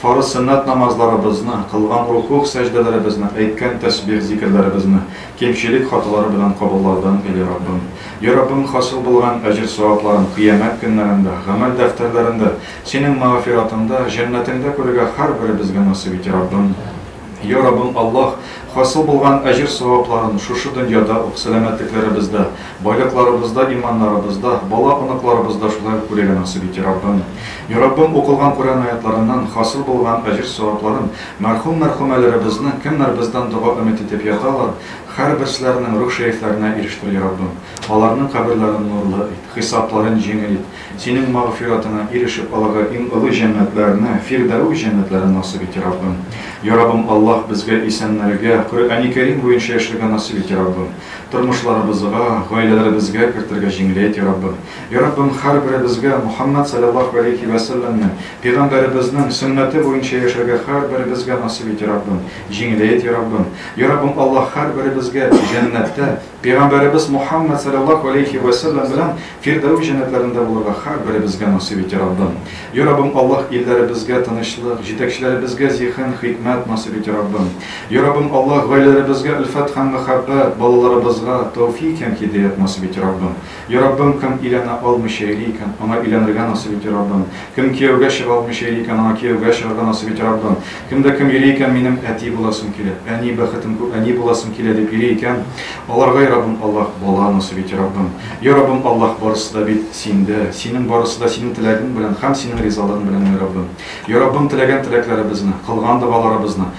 Фарыз сөннәт намазларыбызны, кылган рукугъ сәҗдәләребезне, әйткән тәсбих зикерләребезне кимчелек хаталары белән кабуллаудан или Раббым. Йа Раббым хасил булган әҗер-савапларын кыямәт көннәрендә, гамәл дәфтәрләрендә, Синең мәгъфиратыңда, җәннәтеңдә күрергә һәрберебезгә насыйп ите Раббым. Я Раббым Аллаһ, хасил булган әҗер-савапларын шушы дөньяда ук сәламәтлекләребездә, байлыкларыбызда, иманнарыбызда, бала-оныкларыбызда шулай ук күрергә насыйп ит, я Раббым. Я Раббым, укылган Коръән аятларыннан хасил булган әҗер-савапларын мәрхүм-мәрхүмәләребезнең, кемнәр бездән дога өмет итеп яталар, һәрберсләренең рух шәрифләренә ирештер, я Раббым. Аларның каберләрен нурлы ит, хисапларын җиңел ит. Синең магъфиратыңа ирешеп алырга иң олы җәннәтләрне, Фирдәүс җәннәтләрен насыйп ите, Раббым. Йа Раббым Аллаһ, безгә исәннәргә, Коръәни Кәрим буенча яшәргә насыйп ите, Раббым. Тормышларыбызга, гаиләләребезгә кертергә җиңеләйт, Йа Раббым. Йа Раббым, һәрберебезгә Мухаммәд сәлләллаһу галәйһи вә сәлләмнең, Пигамбәребезнең, сөннәте буенча яшәргә һәрберебезгә насыйп ите, Раббым. Җиңеләйт, Йа Раббым. Йа Раббым Аллаһ, һәрберебезгә җәннәттә, Пәйгамбәребез Мухаммәд салләллаһу галәйһи вә сәлләм белән фирдәүс җәннәтләрендә булырга һәрберебезгә насыйп ит, йа Раббым! Йа Раббым Аллаһ, илләребезгә тынычлык, җитәкчеләребезгә зиһен, хикмәт насыйп ит, йа Раббым! Йа Раббым Аллаһ, гаиләләребезгә өлфәт һәм мәхәббәт, балаларыбызга тәүфик һәм һидаять насыйп ит, йа Раббым! Я Раббым, кем өйләнә алмыйча йөри икән, аңа өйләнергә насыйп ит, я Раббым! Кем кияүгә чыга алмыйча йөри икән, аңа кияүгә чыгарга насыйп ит, я Раббым! Кем дә кем йөри икән, минем әти буласым килә, әни, бәхетем күп, әни буласым килә, дип йөри икән, аларга, я Раббым Аллаһ, бала насыйп ит, я Раббым! Я Раббым Аллаһ, барысы да бит Синдә, Синең барысы да Синең теләгең белән һәм Синең ризалыгың белән, я Раббым! Я Раббым, теләгән теләкләребезне, кылган догаларыбызны,